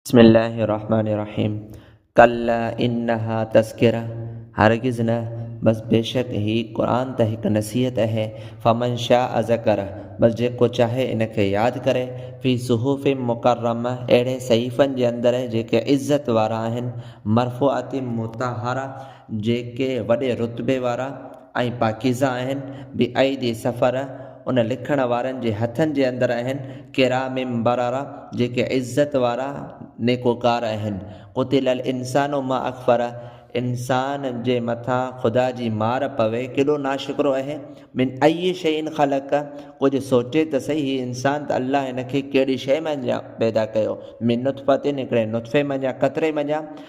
بسم الله الرحمٰن الرحيم ڪلا انها تذڪره هرگز نه بس بيشڪ هي قرآن ته هڪ نصيحت اهي فمن شاء ذڪره بس جيڪو چاهي ان کي ياد ڪري في صحف مڪرمه اهڙي صحيفن جي اندر جيڪي عزت وارا آهن مرفوعات مطهره جيڪي وڏي رتبي وارا ۽ پاڪيزه آهن، بعيد سفر ان لکڻ وارن جي هٿن جي اندر آهن، ڪرام بررة جيڪي عزت وارا نيڪوڪار آهن، قتل الانسان ما اڪفره انسان جي مٿان خدا جي مار پوي ڪيڏو ناشڪرو آهي، من اي شيء خلقه ڪجهه سوچي ته سهي هي انسان ته الله هن کي ڪهڙي شيء منجهان پيدا ڪيو، من نطفة هڪڙي نطفي منجهان قطري منجهان،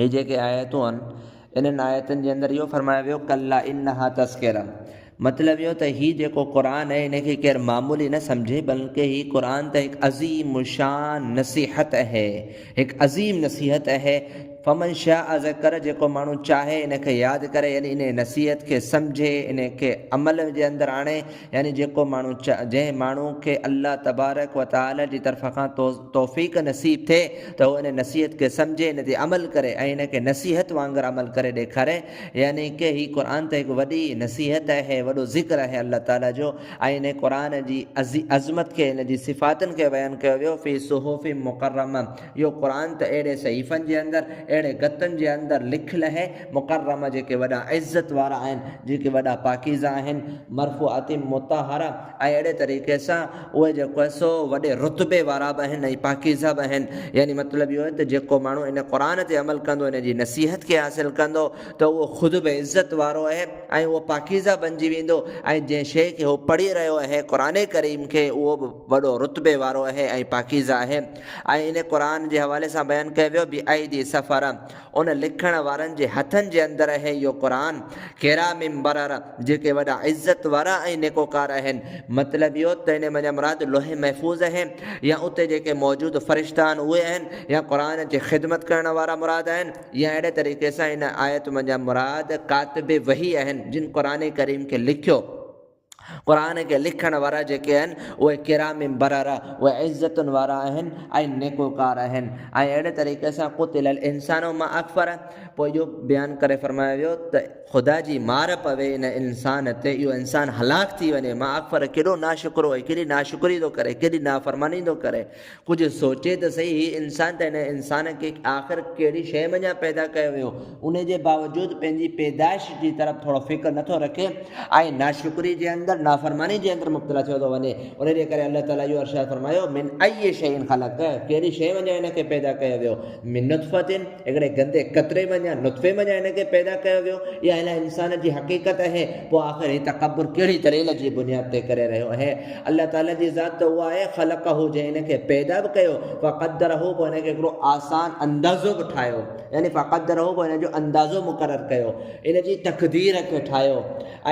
هي جيڪي آيتون آهن، انهن آيتن جي اندر اهو فرمايو ويو ڪلا انها تذڪره مطلب اهو ته هي جيڪو قرآن اهي ان کي ڪير معمولي نه سمجهي بلڪه هي قرآن ته هڪ عظيم الشان نصيحت اهي هڪ عظيم نصيحت اهي فمن شاء ذڪر جيڪو ماڻهو چاهي ان کي ياد ڪري يعني انهي نصيحت کي سمجهي انهي کي عمل جي اندر آڻي يعني جيڪو ماڻهو جنهن ماڻهو کي الله تبارڪ و تعالي جي طرف کان توفيق نصيب ٿئي ته هو ان نصيحت کي سمجهي ان تي عمل ڪري ۽ ان کي نصيحت وانگر عمل ڪري ڏيکاري يعني ڪي هي قرآن ته هڪ وڏي نصيحت آهي وڏو ذڪر آهي الله تعالي جو ۽ ان قرآن جي عظمت کي ان جي صفاتن کي بيان ڪيو ويو في صحف مڪرمه اهو قرآن ته اهڙي صحيفن جي اندر اهڙي گتن جي اندر لکيل آهي مڪرمه جيڪي وڏا عزت وارا آهن، جيڪي وڏا پاڪيزه آهن، مرفوعات مطهره ۽ اهڙي طريقي سان اهي جيڪو آهي سو وڏي رتبي وارا به آهن ۽ پاڪيزه به آهن يعني مطلب اهو آهي ته جيڪو ماڻهو ان قرآن تي عمل ڪندو ان جي نصيحت کي حاصل ڪندو ته اهو خود به عزت وارو اهي ۽ اهو پاڪيزه بنجي ويندو ۽ جنهن شيء کي هو پڙهي رهيو اهي قرآن ڪريم کي اهو به وڏو رتبي وارو اهي ۽ پاڪيزه اهي ۽ ان قرآن جي حوالي سان بيان ڪيو ويو بأيدي سفره ان لکڻ وارن جي هٿن جي اندر اهي اهو قرآن، ڪرام بررة، جيڪي وڏا عزت وارا ۽ نيڪوڪار اهن. مطلب اهو ته ان منجهان مراد لوح محفوظ اهي يا اتي جيڪي موجود فرشتا آهن اهي آهن يا قرآن جي خدمت ڪرڻ وارا مراد آهن يا اهڙي طريقي سان ان آيت منجهان مراد ڪاتب وحي اهن جن قرآن ڪريم کي لکيو قرآن کي لکڻ وارا جيڪي آهن اهي ڪرام بررة اهي عزتن وارا آهن ۽ نيڪوڪار آهن ۽ اهڙي طريقي سان قتل الانسان ما اڪفره پوء اهو بيان ڪري فرمايو ويو ته خدا جي مار پوي ان انسان تي اهو انسان هلاڪ ٿي وڃي ما اڪفره ڪيڏو ناشڪرو ۽ ڪيڏي ناشڪري ٿو ڪري ڪيڏي نافرماني ٿو ڪري. ڪجهه سوچي ته سهي، هي انسان ته هن انسان کي آخر ڪهڙي شيء منجهان پيدا ڪيو ويو، ان جي باوجود پنهنجي پيدائش جي طرف ٿورو فڪر نه ٿو رکي ۽ ناشڪري جي اندر، نافرماني جي اندر مبتلا ٿيو ٿو وڃي. ان جي ڪري الله تعاليٰ اهو ارشاد فرمايو، من ايّ شيء خلقه، ڪهڙي شيء منجهان هن کي پيدا ڪيو ويو، من نطفة، جيڪڏهن گندي قطري مان يا نطفي مان هن کي پيدا ڪيو ويو، اها الائي انسان جي حقيقت اهي، پوء آخر هي تڪبر ڪهڙي دليل جي بنياد تي ڪري رهيو اهي؟ الله تعاليٰ جي ذات ته اها آهي، خلقه، جنهن هن کي پيدا به ڪيو، فقدره، پوء هن کي هڪڙو آسان اندازو به ٺاهيو، يعني فقدره، پوء هن جو اندازو مقرر ڪيو، هن جي تقدير کي ٺاهيو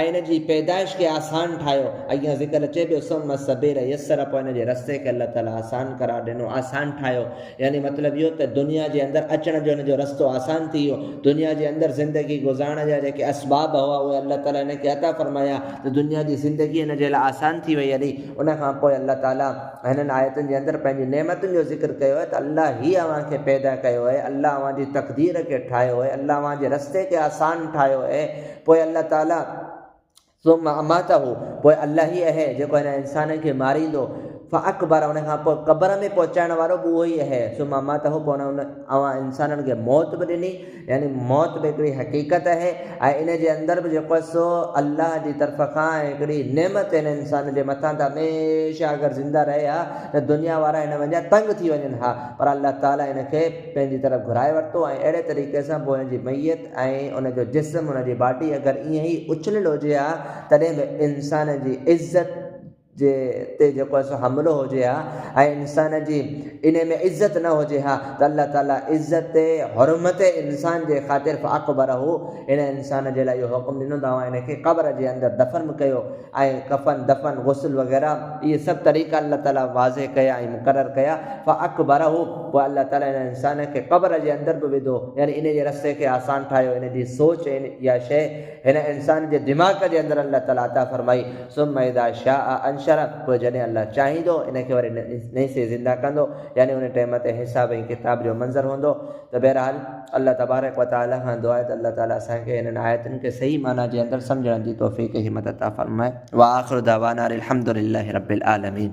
۽ هن جي پيدائش کي آسان ٺاهيو، اڳيان ذڪر اچي پيو، ثم السبيل يسره، پوء هن جي رستي کي الله تعاليٰ آسان قرار ڏنو، آسان ٺاهيو. يعني مطلب اهو ته دنيا جي اندر اچڻ جو هن جو رستو آسان ٿي ويو، دنيا جي اندر زندگي گذارڻ جا جيڪي اسباب هئا اهي الله تعاليٰ هن کي عطا فرمايا ته دنيا جي زندگي هن جي لاء آسان ٿي وئي هلي ان کان پوء الله تعاليٰ هنن آيتن جي اندر پنهنجي نعمتن جو ذڪر ڪيو آهي ته الله هي اوهان کي پيدا ڪيو آهي الله اوهان جي تقدير کي ٺاهيو آهي الله اوهان جي رستي کي آسان ٺاهيو آهي پوء الله تعاليٰ ثم اماته، پوء الله ئي اهي جيڪو هن انسان کي ماريندو، فاقبره، ان کان پوء قبر ۾ پهچائڻ وارو به اهو ئي اهي، ثم اماته، پوء ان اوهان انسانن کي موت به ڏني، يعني موت به هڪڙي حقيقت اهي ۽ ان جي اندر به جيڪو آهي سو الله جي طرف کان هڪڙي نعمت هن انسان جي مٿان ته هميشه اگر زنده رهي ها ته دنيا وارا هن وانگيان تنگ ٿي وڃن ها پر الله تعالي هن کي پنهنجي طرف گهرائي ورتو ۽ اهڙي طريقي سان پوء هن جي ميت ۽ ان جو جسم، ان جي باڊي اگر ائين ئي اڇليل هجي ها تڏهن به انسان جي عزت جي تي جيڪو آهي سو حملو هجي ها ۽ انسان جي انهي ۾ عزت نه هجي ها ته الله تعالي عزت حرمت انسان جي خاطر فاقبره ان انسان جي لاء اهو حڪم ڏنو ته اوهان ان کي قبر جي اندر دفن ڪيو ۽ ڪفن دفن غسل وغيره اهي سڀ طريقا الله تعالي واضح ڪيا ۽ مقرر ڪيا فاقبره پوء الله تعالي ان انسان کي قبر جي اندر به وڌو يعني ان جي رستي کي آسان ٺاهيو ان جي سوچ ۽ اها شيء هن انسان جي دماغ جي اندر الله تعالي عطا فرمائي ثم اذا شاء انشره پوء جڏهن الله چاهيندو ان کي وري نئين سري زنده ڪندو يعني ان ٽيم تي حساب ۽ ڪتاب جو منظر هوندو ته بهرحال الله تبارڪ و تعاليٰ کان دعا آهي ته الله تعاليٰ اسان کي هنن آيتن کي صحيح معنيٰ جي اندر سمجهڻ جي توفيق ۽ همت عطا فرمائي. وآخر دعوانا ان الحمدللہ رب العالمين.